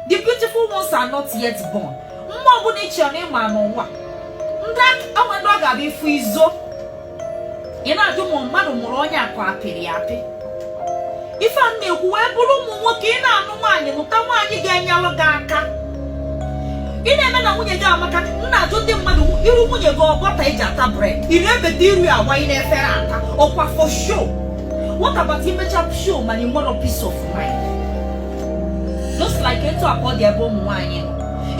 the beautiful ones are not yet born mma ọbụla ị chọrọ ịma n'ụwa ndị onwe ndị ọ ga-abụ ifu izo ị na-ajụ ma mmadụ mụrụ onye a ka apịrị ya apị ife a na-ekwu wee bụrụ ụmụ nwoke ị na-anụ nwaanyị nụta nwaanyị ga-enyelụ gị aka ị na-eme na nwunye gị amaka m na-ajụ ndị mmadụ iru nwunye gị ọ butter eji ata bread ị na-ebeta iru ya awa ị n'efere ata ọkwa for show what about imecha show mana ị nwerọ peace of mind just like etu a ka ọ dị ebe ụmụ nwaanyị nọ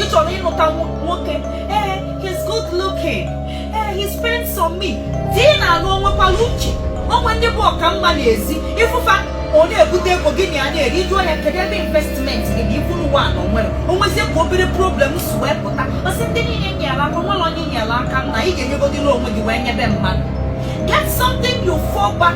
ị chọrọ ịnụta nwoke ee he's good looking ee he spends on me di ị na-alụ onwekwala uche onwe ndị bụ ọka mma n'ezi ịfụfa ọ na-ebute ego gị na ya na-eri ị jụọ ya kedu ebe investment gị na ikwuru ụwa na onwere onwezie ka obere problem si wee pụta ọsị ndị niile nyere aka nwere onye nyere aka na ị ga-enyegodịla onwe gị wee nyebe mmadụ get something you fall back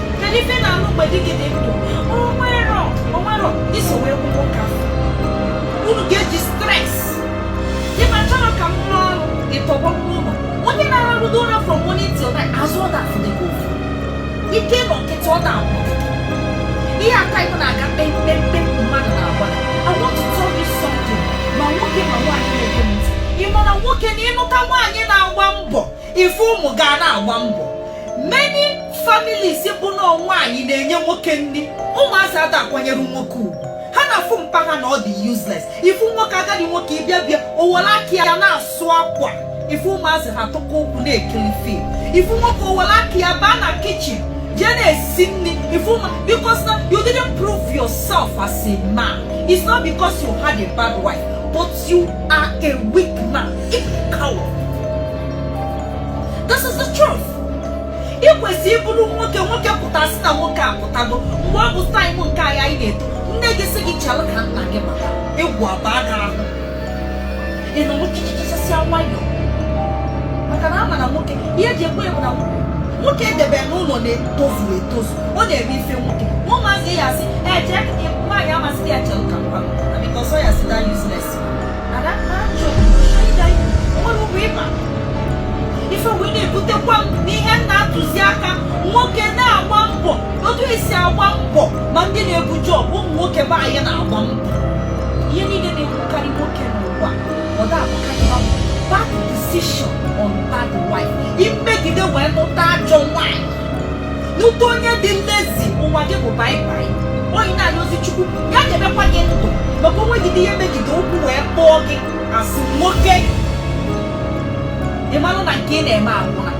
kedu ife ị na-alụ mgbe di gị dị ndụ onwero onwero iso wee kwụ nwoke afọ unu ga-eji stress di m achọrọ ka m rụọ ọrụ ịtọgbọ n'ụlọ onye na-ararụdo ụra from morning till night azụ ọ da afụdi gị ụfụ ike ịnọ nkịtị ọ na-agwụ gị ihe aka ịkụ na-aga kpemkpemkpe mmadụ na-agba I want to tell you something ma nwoke ma nwaanyị na-ege m ntị ị ma na nwoke na ịnụta nwaanyị na-agba mbọ ifu ụmụ gị a na-agba mbọ many families bụ na nwaanyị na-enye nwoke nri ụmụazị ada akwanyere nwoke ugwu ha na-afụ mpa ha na ọ dị useless ifu nwoke agadi nwoke ịbịa bịa owere aka ya na-asụ akwa ifu ụmụazị ha tụkọ ụkwụ na-ekiri film ifu nwoke owere aka ya baa na kitchen jee na-esi nri ifu ụmụ because na you didn't prove yourself as a man it's not because you had a bad wife but You are a weak man. A coward. This is the truth. Ị kwesịrị ịbụrụ nwoke nwoke pụta asị na nwoke apụtago mgbe ọ bụ time nke anyị anyị na-eto nne gị sị gị chere ka nna gị bata egwu abaa gị ahụ ị nọ nwochichichasịa nwayọọ maka na ama na nwoke ihe eji ekwe ya bụ na nwoke edebe n'ụlọ na-etozu etozu ọ na-eme ifu nwoke ụmụazị ya asị eje nwaanyị amasị ya chere ka mpa na because ọ ya si da useless ada ha chọrọ ịga nwere ụgwọ ịma ife wee na-ebutekwa m n'ihe m na-atụzi aka nwoke na-agba mbọ otu esi agba mbọ ma ndị na-ebu job ụmụ nwoke be anyị na-agba mbọ ihe niile na-egbukarị nwoke n'ụwa ọ na-abụkarị ha bad decision or bad wife imegide wee nụta ajọ nwaanyị Nụta onye dị lazy ụwa gị bụ bye-bye onye na-ayọzi Chukwu ya ga-emekwa gị ndụ maka onwe gị dị ihe megide okwu wee kpọọ gị asị nwoke ị marụ na nke ị na-eme agwụla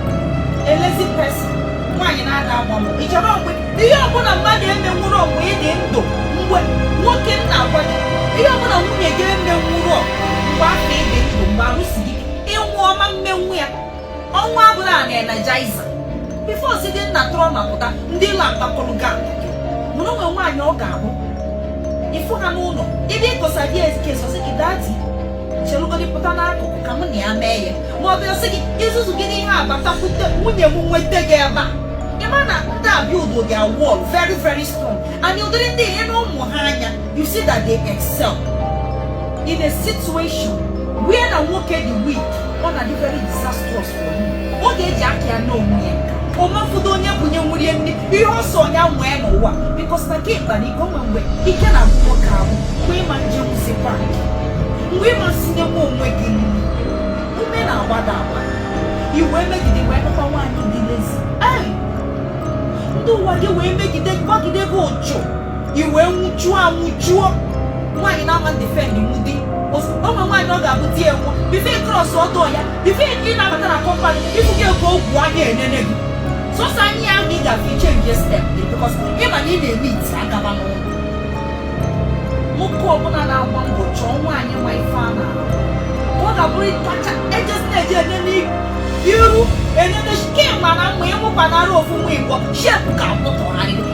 a lazy person nwaanyị na-ada agba mbọ ị chọrọ mgbe ihe ọbụla mmadụ emenwurọ mgbe ị dị ndụ mgbe nwoke na-agwa gị ihe ọbụla nwunye gị emenwurọ mgbe afụ ị dị ndụ mgbe arụ si gị ị nwụọ ọ ma mmenwu ya ọnwa abụla a na-energiza before site nna tụrọ ma pụta ndị ụlọ akpakọrọ ga mụrụ o nwe nwaanyị ọ ga-abụ ịfụ ha n'ụlọ ebe ịkọsa di ezike ọ sị gị daddy chelụgodi pụta n'akụkụ ka mụ na ya mee ya ma ọ bịa sị gị izuzu gị n'ihe abatakwute nwunye m nweta gị ebe a ị ma na ndị abịa udo gị a wall very very strong and ụdịrị ndị ihe na ụmụ ha anya You see that they excel in a situation where na nwoke dị weak ọ na-adị very disastrous for you. Ọ ga-eji aka ya n'onwe ya omafudo onye bunye nwurie nri ihe ọsọ onye nwee n'ụwa because na ka ịkpa na ike o nwe mgbe ike na abụọ ka ahụ mgbe ị ma njenwuzikwa mgbe ị ma nsinyenwu onwe gị nri ume na-agbada agba i wee megide wee nụkwa nwaanyị dị lazy ndị ụwa gị wee megide gbagide gị ụchụ i wee nwụchuo anwụchuo nwaanyị na-ama defend nwu di o nwe nwaanyị ọ ga-abụ di ya nwa before cross ọtọ ya before ị na-abata na compound ifu gị ego ogwu a ga-enene gị sọsọ anya ahụ ị ga-afụ ị change step gị because ị ma na ị na-eme iti agaba n'ụlọ nwoke ọbụla na-agba mbọ chọọ nwaanyị nwe ife a na-arụ ka ọ ga-abụrụ ịtacha ejesi na-eji enene iru enene kemgbe na mma ịmụkwa na arụ ofu nwa igbo shape ka akpụtụgharịrị